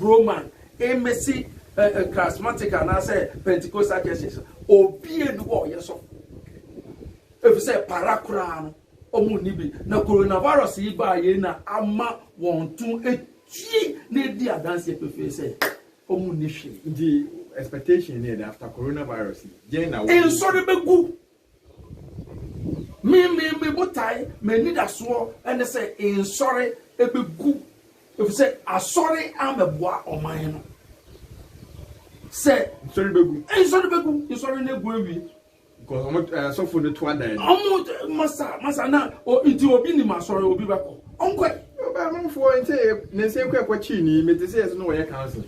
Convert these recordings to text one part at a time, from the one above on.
Roman, mmesi ɛ, Charismatic anaasɛ Pentecostal churches no, obiara nni hɔ a ɔyɛ sɔfo, efisɛ para koraa no wɔnni bi. Na coronavirus yi baa yei na ama wɔn to atue na adi adanseɛ pefee sɛ wɔnni hwee. Nti expectation ne yɛ dɛn after coronavirus yi? Deɛn na wo. Nsɔre bɛgu Me me me botae, m'anidasoɔ ne sɛ nsɔre bɛgu efisɛ asɔre amɛboa ɔman no sɛ. Nsɔre bɛgu. Nsɔre bɛgu. Nsɔre no gu awie. Because ɔmo eh, asɔfo no to adan. Ɔmo eh, masa masa na o nti obi nim asɔre obi bɛkɔ ɔnkɔ. Ɔbɛn amanfoɔ nti ne nsa ekura kɔ kyii ni mete sɛ yɛsɛ no wɔyɛ council.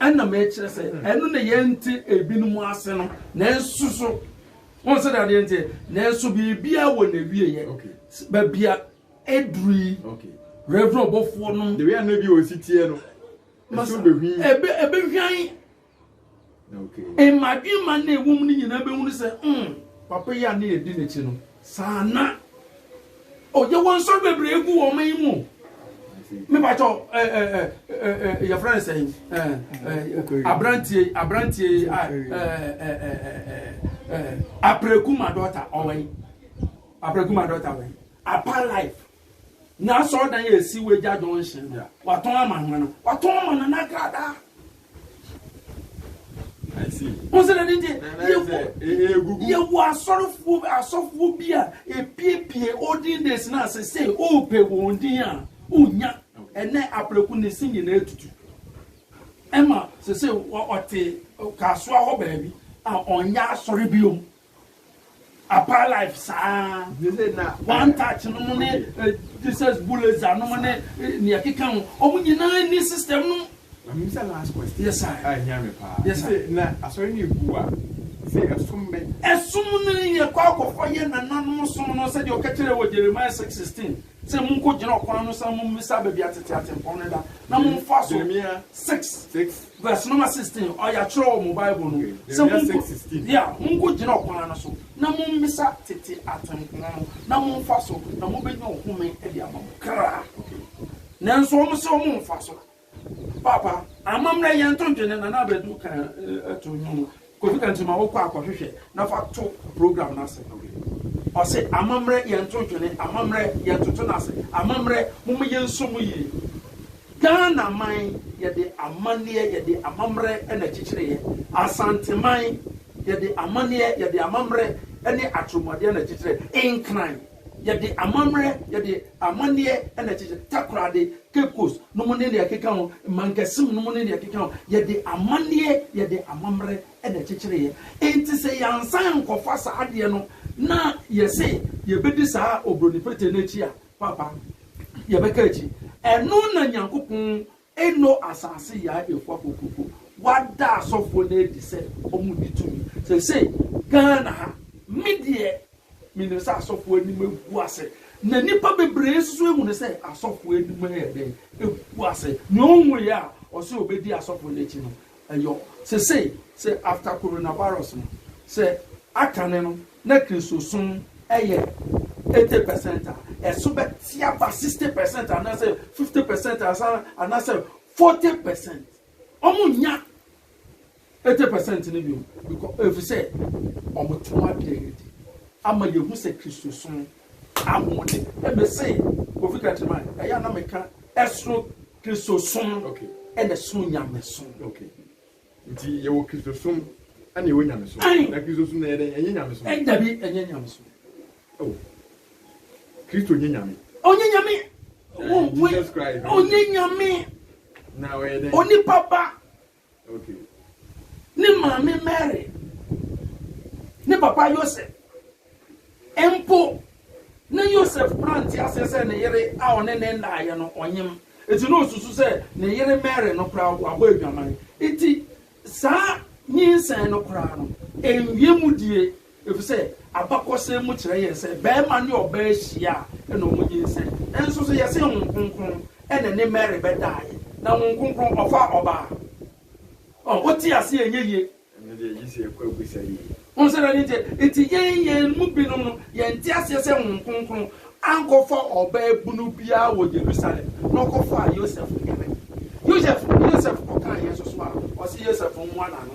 Ɛna mekyerɛ sɛ ɛno na yɛnte ebinom ase no, nanso so wɔn sɛ adeɛ nteɛ, nanso biribiara wɔ n'awieɛ. Baabi a ɛduru yi, Reverend ɔbɔfoɔ no. Deɛ ɛna bi wɔ si teɛ no, ɛso bɛhwi. Ɛbɛ ɛbɛhwan. Okay. Mmadwemma na ɛwɔ mu no nyinaa bɛhunu sɛ, mm, papa yi a ne yɛdi n'akyi no. Saa na ɔyɛ wɔn nsɔre bebree gu wɔn man mu. Mebatɔ ɛɛ ɛɛ ɛɛ yɛfrɛ no sɛn ɛɛ aberanteɛ aberanteɛ a ɛɛ ɛɛ ɛɛ apɛrɛku ma dɔta ɔwɛn apɛrɛku ma dɔta wɛn apa life. N'asɔrdan yɛ esi wɔ Agya Junction bia. Watɔn ama hwan a? Watɔn ama Nana Accra daa. I see. Wɔn sɛ dade deɛ yɛwɔ Egugu. yɛwɔ asɔrefoɔ bi- asɔfoɔ bi a epiepie olden days no a sese ɔɔpɛ wɔn din a ɔnya ɛnɛ apreku ne se nyinaa atutu ɛma sese wa- ɔte kasoa hɔ baabi a ɔnyɛ asɔre biom Upper life saa. One touch no mo ne Jesus Buleza no mo ne nea keka ho. Wɔn nyinaa ni system no. Na mi bisa last question. Yes sir. A ehia mi paa. Yes sir. Na asɔre no egu a sɛ ɛsom bɛn? Ɛsom no yɛ kɔ akɔkɔ yɛ nananom som no sɛdeɛ ɔka kyerɛ wɔ Jeremiah six sixteen sɛ monko gyina ɔkwan no san mo mmisa baabi a tete atempɔn no da na momfa so. Jeremiah six six. Verse number sixteen, Ɔyɛatwerɛ wɔ mo Bible no sɛ monko, yeah, monko gyina ɔkwan no so na mommisa tete atempɔn no na momfa so na mobɛnya ɔhome de ama mo kra. Nanso wɔn se wɔn mfa so. Paapa, amammerɛ yɛnto ntwene, Nana Badu kaa to nnwom. Kofi ka nti ma wo kɔ akɔhwehwɛ na fa to program no ase ok ɔse amammerɛ yɛn nto ntwene amammerɛ yɛn ntoto no ase amammerɛ momma yɛn nsɔ mu yie Ghana man yɛde amanneɛ yɛde amammerɛ na akyikyireɛ Asanteman yɛde amanneɛ yɛde amammerɛ ne atoromuadeɛ na akyikyireɛ Nkran. Yɛde amammerɛ, yɛde amanneɛ na ɛkyekyɛ Takoradi, Cape Coast no mu ne nea ɛkeka ho, Mangassim no mu ne nea ɛkeka ho. Yɛde amanneɛ, yɛde amammerɛ na ɛkyekyereeɛ. Enti sɛ yɛansan ankɔfa saa adeɛ no na yɛse yɛbɛdi saa Oburoni Pretee no akyi a, Paapa, yɛbɛka akyi. Ɛno na Nyankopɔn Eno asase yaa efua kokoko. Wada asɔfoɔ no adi sɛ wɔn nni tumi. Seisei Ghana ha, me deɛ menim sɛ asɔfoɔ anim agu ase. Na nnipa bebree nso so ahunu sɛ asɔfoɔ anim ayɛ dɛn? Agu ase. Nea ɔnhuiɛ a ɔse ɔbɛdi asɔfoɔ no akyi no, Ɛyɔ sesei sɛ after coronavirus no sɛ akane no na kristosom ɛyɛ eighty percent a ɛso bɛte aba sixty percent anasɛ fifty percent ansa anasɛ forty percent ɔmo nnya eighty percent no biom bcɔ efisɛ ɔmo te ho adeɛ adi ama yɛhu sɛ kristosom ahoɔden. Ɛ me se Kofi Kɛntɛman ɛyɛ a na me ka ɛsoro Kristosom ɛna ɛsono Nyamesom. Ok. Nti yɛ wɔ Kristosom ɛna yɛ wɔ Nyamesom. Ae. Na Kristosom no ɛyɛ dɛn? Ɛnyɛ Nyamesom? Ɛ dabi ɛnyɛ Nyamesom. Oh. Kristo nyɛ Nyame? Ɔnyɛ Nyame. Ɛ Jesus Christ ɔnyɛ Nyame. Na ɔyɛ dɛn? Onipa ba. Ne maame Mary ne papa Yosef mpo, na Yosef kura nteaseɛ sɛ ne yere a ɔne no ndaeɛ no, ɔnyem. Enti na ɔsusu sɛ ne yere Mary no koraa wabɔ adwaman. Enti saa nyinsɛn no koraa no, ɛnwie mudie. Efisɛ abakɔsɛm mu kyerɛ yɛn sɛ barima ne ɔbaa hyia a ɛna wɔnyinsɛn. Nanso so yɛse Honhom Kronkron na ɛne Mary bɛdaeɛ? Na Honhom Kronkron ɔfaa ɔbaa? Ɔh, wote aseɛ a ɛnyɛ yie. Ɛno deɛ gye sɛ yɛkɔ abisa yie. Wohu sɛ dɛn nti? Enti yɛn yɛn mu binom no, yɛnte aseɛ sɛ Honhom Kronkron ankɔfa ɔbaa bunu biara wɔ Yerusalem na ɔkɔfaa Yosef nkanan. Yosef, Yosef kɔkaa yɛn nso so a, ɔse Yosef mmoa n'ano.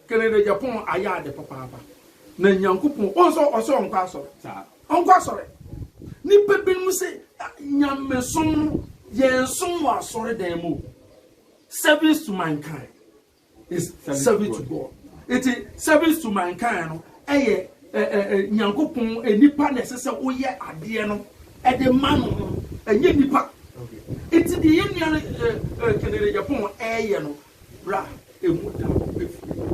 Canada Japan ayɛ ade papaapa na Nyankopɔn wohu sɛ ɔse ɔnkɔ asɔre ɔnkɔ asɔre nipa binom se Nyamesom no yɛn som wɔ asɔre dan mu o service to mankind is service to God eti service to mankind no ɛyɛ Nyankopɔn nipa na ɛsɛ sɛ woyɛ adeɛ no ɛde ma no no ɛnyɛ nipa eti deɛ yɛ nua Canada Japan ɛyɛ no bra emu da no befiri hɔ.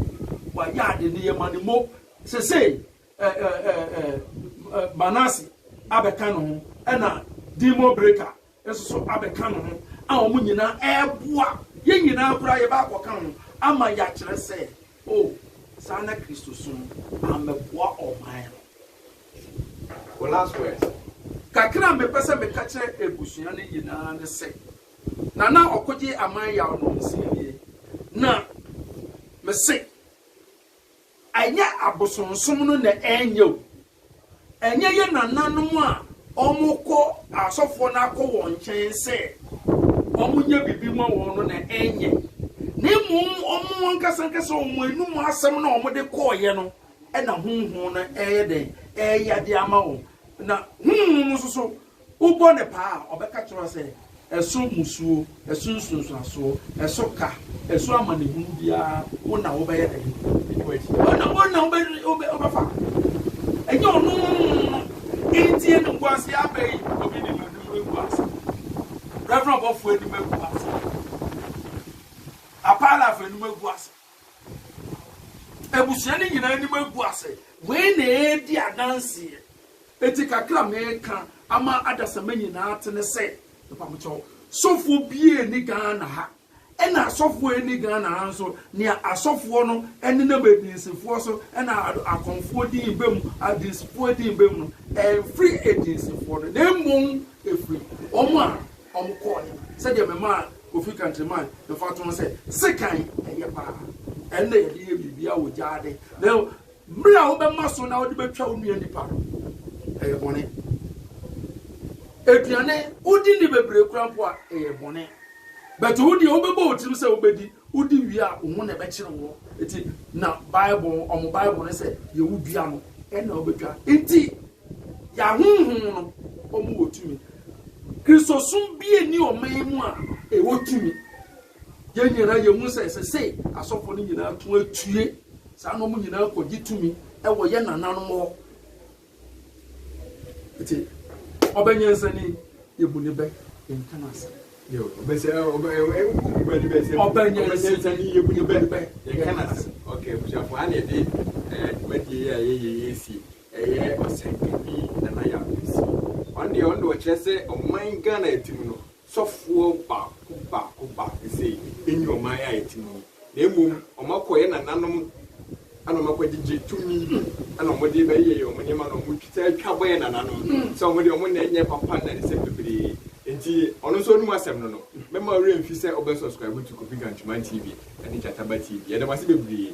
Wayɛ ade no yɛ ma no mo. Sesei ɛ ɛ ɛ ɛ ɛ Manase abɛka ne ho ɛna Demon Breaker nso so abɛka ne ho a wɔn nyinaa ɛɛboa yɛn nyinaa koraa yɛba akɔka ho ama yɛakyerɛ sɛ o saa na Kristosom amɛboa ɔman no. Wo last words. Kakra a mepɛ sɛ meka kyerɛ abusua no nyinaa ne sɛ. na na ɔkogye aman yaw no nsɛnnie. Na mese, ɛnyɛ abosonsom no na ɛnyɛ o, ɛnyɛ yɛn nananom a wɔkɔ asɔfoɔ no akɔ wɔn nkyɛn sɛ wɔnyɛ biribi mma wɔn no na ɛnyɛ, na mmom wɔn ankasa ankasa wɔn anom asɛm no a wɔde kɔeɛ no na honhom no reyɛ dɛn? Reyɛ adeɛ ama wɔn. Na honhom no nso so, Wobɔ no paa a, ɔbɛka kyerɛ wo sɛ, Ɛso mmusuo, ɛso nsunsuansoɔ, ɛso ka, ɛso amanehunu biara, wo na wobɛyɛ dɛn? Wobɛdi wo akyi. Wo na, wo na wobɛfa. Ɛnyɛ ɔno. Enti animguaseɛ aba yi, obi nim anim agu ase. Reverend ɔbɔfoɔ anim agu ase. Apalafo anim agu ase. Abusua no nyinaa anim agu ase. Wei na ɛredi adanseɛ. Enti kakra a meka ama adasamma nyinaa ate ne sɛ, mpabokyɛw, sɔfoɔ biara nni Ghana ha, ɛna asɔfoɔ nni Ghana ha nso, nea asɔfoɔ no nenam adinsifoɔ so na akɔmfoɔ din ba mu, adinsifoɔ din ba mu no, ɛmfiri adinsifoɔ no, na mmom ɛfiri wɔn a wɔkɔɔeɛ no, sɛdeɛ memaa Kofi Kantriman mfatoho sɛ, sekan ɛyɛ paa, ɛnna yɛde yɛ biribiara wɔ gyaade, na Bere a wobɛma so na wode betwa wo nua nipa no, ɛyɛ bɔne. Aduane, wodi nni bebree koraa mpo a, ɛyɛ bɔne. But wo deɛ, wobɛbɔ wo tirim sɛ wobɛdi, wodi wie a, wo ho na ɛbɛkyere woɔ. Enti na Bible, wɔn Bible no sɛ, deɛ wodua no, ɛnna wobɛtwa. Enti yɛn ahonhom no, wɔwɔ tumi. Kristosom bi nni ɔman mu a ɛwɔ tumi. Yɛn nyinaa yehu sɛ ɛsɛ sɛ asɔfo no nyinaa to atue saa na wɔn nyinaa kogye tumi wɔ yɛn nananom hɔ. Enti, ɔbɛ nyansani, yebu ne bɛ nka no asɛm. Ɔbɛ nyansani, yebu ne bɛ nka no asɛm. Okay, abusuafo, ha na yɛde dwumadie yi a yɛyɛ yi asi. Ɛyɛ ɔsɛnkani Nana Yaw Kwesi. Ɔno deɛ, ɔno deɛ ɔkyerɛ sɛ ɔman Ghana a ɛte mu no, sɔfoɔ baako baako baako se, Enni ɔman a yɛte mu yi, na mmom wɔakɔ yɛn nananom na wɔakɔgyegye tumi bi na wɔde rebɛyɛ yɛn wɔn nneɛma na wɔtaa atwa bɔ yɛn nananom sɛ wɔn deɛ wɔn nna nyɛ papa nna ne sɛ bebree nti ɔno nso ɔnim asɛm no no mɛma wo werɛ mfi sɛ wobɛ subscribe to Kofi Gantman TV ne Gyataba TV. Yɛda mo ase bebree.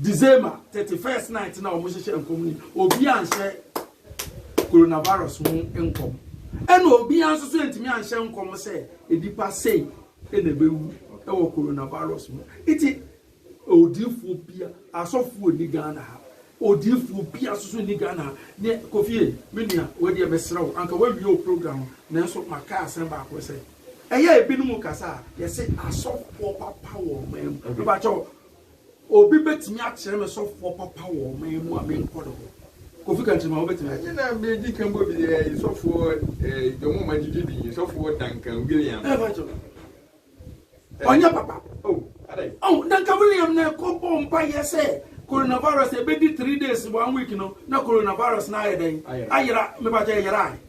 December thirty first night na wɔn hyehyɛ nkɔm ni obi anhyɛ coronavirus ho nkɔm ɛna obi nso so ntumi anhyɛ nkɔm sɛ nipa sei ɛna ɛbɛwu ɛwɔ coronavirus ho eti odiifoɔ bia asɔfoɔ ni Ghana ha odiifoɔ bia nso so ni Ghana ha ne kofie me nua wɔdeɛ mesrɛ wo anka wawie o program nanso maka asɛm baako sɛ ɛyɛ ebinom kasa a yɛsɛ asɔfoɔ papa wɔ ɔman mu ɛbakyɛw Obi bɛtumi akyerɛ me sɔfoɔ papa wɔ ɔman mu a menkɔ ne hɔ? Kofi ka nkyerɛ me a wobɛtumi ayɛ. Ɛna medi kan bɔ bi yɛ sɔfoɔ eh, Jomo ma gyigye din, sɔfoɔ Duncan William. Eh, Pacho. Ɔnyɛ papa. Oh, adɛn? Oh, Duncan William na ɛkɔ bɔɔ mpaeɛ sɛ coronavirus ɛbɛdi three days, one week no, na coronavirus no ayɛ dɛn? Ayera. Ayera, me Pacho ɛyerae.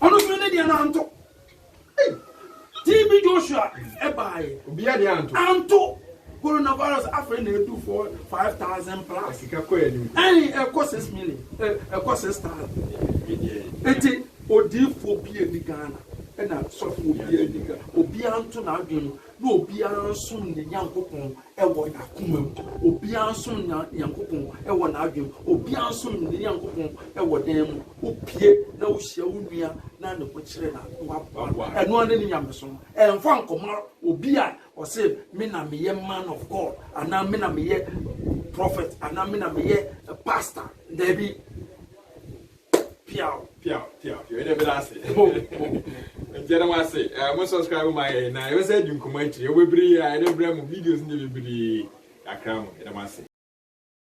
Ɔno nso ne deɛ no anto. Ei! TB Joshua ɛbaaeɛ. Obiara deɛ anto. Anto. Coronavirus afei na ɛdu four five thousand plus. Sika kɔ yɛn anim. Ɛn ɛkɔ six million ɛ ɛkɔ six thousand. Eti odiifoɔ bi ɛni Ghana ɛna sɔfoɔ bi ɛni Ghana obiara nto n'adwene mu. na obiara nsom ne Nyankopɔn wɔ n'akoma mu, obiara nsom ne Nyankopɔn wɔ n'adwene mu, obiara nsom ne Nyankopɔn wɔ dan mu, wopue na wohyia wo nua na ne ho kyere no a, na waboa no. Ɛno ara ne ne nyamesom no. Ɛmfa nkɔma obi a ɔse me na meyɛ man of God anaa me na meyɛ prophet anaa me na meyɛ pastor. Dabi. Piaw piaw piaw piaw ɛnna ɛbɛda ase ho ho nti ɛnna wɔn ase ɛɛ mo subscribe ma yɛ na ɛbɛsɛ adi nkɔmɔ akyire ɛwɔ bebree a ɛde brɛ mo videos ne bebree kakra mo ɛnna wɔn ase.